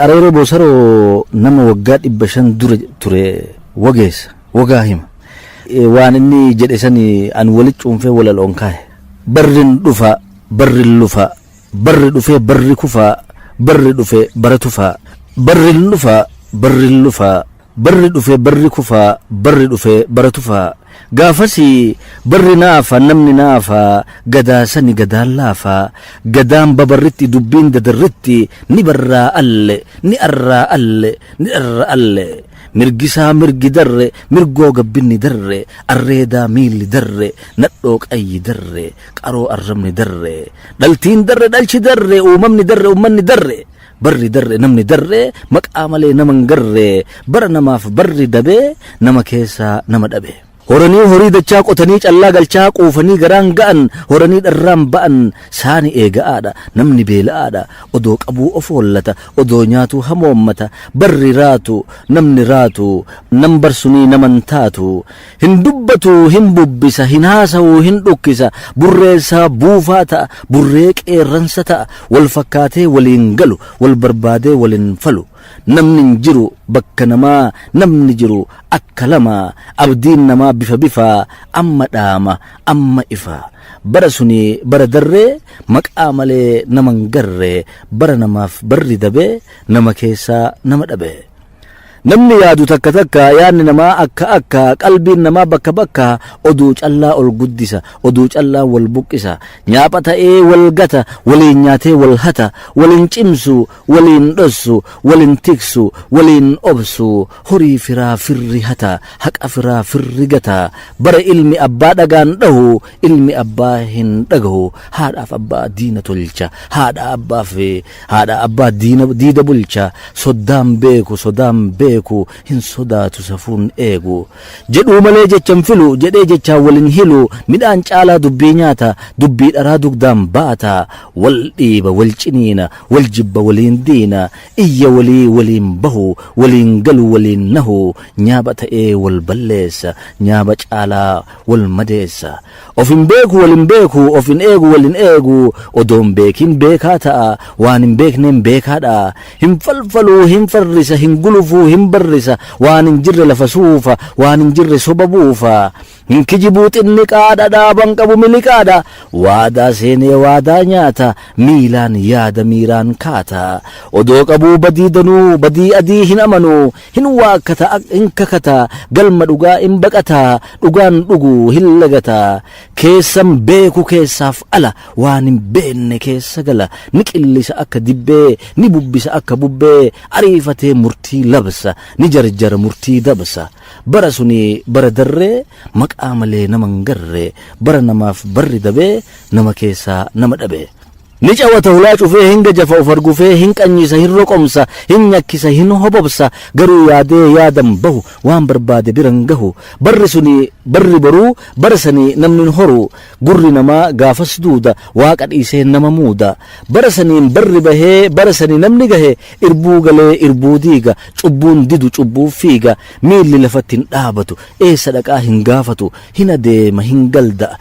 Areeroo Boosaroo nama waggaa dhibba shan dura ture wageessa, wagaa hima. Waan inni jedhe san an wali cuunfee walaloon kaahe. Barrin dhufa, barrin lufa, barri dhufee barri kufa, barri dhufe bara tufa, barrin dhufa, barrin lufa, Barri dhufe barri kufa barri dhufe bara tufa Gaafasi barri naafa namni naafa Gadaa sani gadaan laafa Gadaan babarritti dubbiin dadarritti Ni barraa alle ni arraa alle ni dharra alle Mirgisaa mirgi darre mirgoo gabbinni darre Arreedaa miilli darre nadhoo qayyi darre Qaroo arrabni darre Dhaltiin darre dhalchi darre uumamni darre ummanni darre Barri darre namni darre maqaa malee nama hin garre bara namaaf barri dabe nama keessaa nama dhabe. Horanii horii dachaa qotanii callaa galchaa quufanii garaan ga'an horanii dharraan ba'an saani eega'aadha namni beela'aadha odoo qabuu of hollata odoo nyaatuu hamoommata barri raatu namni raatu nam barsunii naman taatu Hin dubbatu, hin bubbisa, hin haasa'u, hin dhukkisa, burreessa, buufaa ta'a, burree qeerransa ta'a, wal fakkaatee walii hin galu, wal barbaadee wal hin falu. Namni hin jiru bakka namaa, namni jiru akka lama, abdiin namaa bifa bifaa, amma dhaama, amma ifa. Bara suni bara darree, maqaa malee nama hin garre, bara namaaf barri dabe, nama keessaa nama dhabe. Namni yaadu takka takka yaanni namaa akka akka qalbiin namaa bakka bakka oduu callaa ol guddisa oduu callaa wal buqqisa nyaapha ta'ee wal gata waliin nyaatee wal hata waliin cimsu waliin dhossu waliin tiksu waliin obsu horii firaa firri hata haqa firaa firri gata bara ilmi abbaa dhagaan dhahu ilmi abbaa hin dhagahu haadhaaf abbaa diina tolcha haadha abbaaf Haadha abbaa diina diida bulcha soddaan beeku sodaan beeku hin sodaatu safuun eegu Jedhuu malee jecha hin filu jedhee jechaan wal hin hilu Midhaan caalaa dubbii nyaata dubbii dharaa dugdaan baata Wal dhiiba wal ciniina wal jibba waliin diina Iyya walii waliin bahu waliin galu waliin nahu Nyaaba ta'ee wal balleessa nyaaba caalaa wal madeessa Of hin beeku wal hin beeku of hin eegu wal hin eegu odoo hin beekin beekaa ta'a waan hin beekneen beekaadha hin falfalu hin farrisa hin gulufu hin barrisa waan hin jirre lafa suufa waan hin jirre soba buufa hin kijibu xinniqaadha dhaaba hin qabu miliqaadha waadaa seenee waadaa nyaata miilaan yaada miiraan kaata odoo qabuu badii danuu badii adii hin amanu Hin waakkata ak hin kakata galma dhugaa hin baqata dhugaan dhugu hin lagata keessan beeku keessaaf ala waan hin beenne keessa gala ni qillisa akka dibbee ni bubbisa akka bubbee ariifatee murtii labsa ni jarjara murtii dabsa bara suni bara darree maqaa malee nama hin garre bara namaaf barri dabee nama keessaa nama dhabee. Ni cawata hulaa cufee hin gajafa of argufee hin qanyisa hin roqomsa hin nyakisa hin hobobsa garuu yaadee yaadan bahu waan barbaade biran gahu barri suni barri boruu bara sani namni hin horu gurri namaa gaafas duuda waaqa dhiisee nama muuda bara saniin barri bahee bara sani namni gahe irbuu galee irbuu diiga cubbuun didu cubbuuf fiiga miilli lafatti hin dhaabatu eessa dhaqaa hin gaafatu hin adeema hin galda'a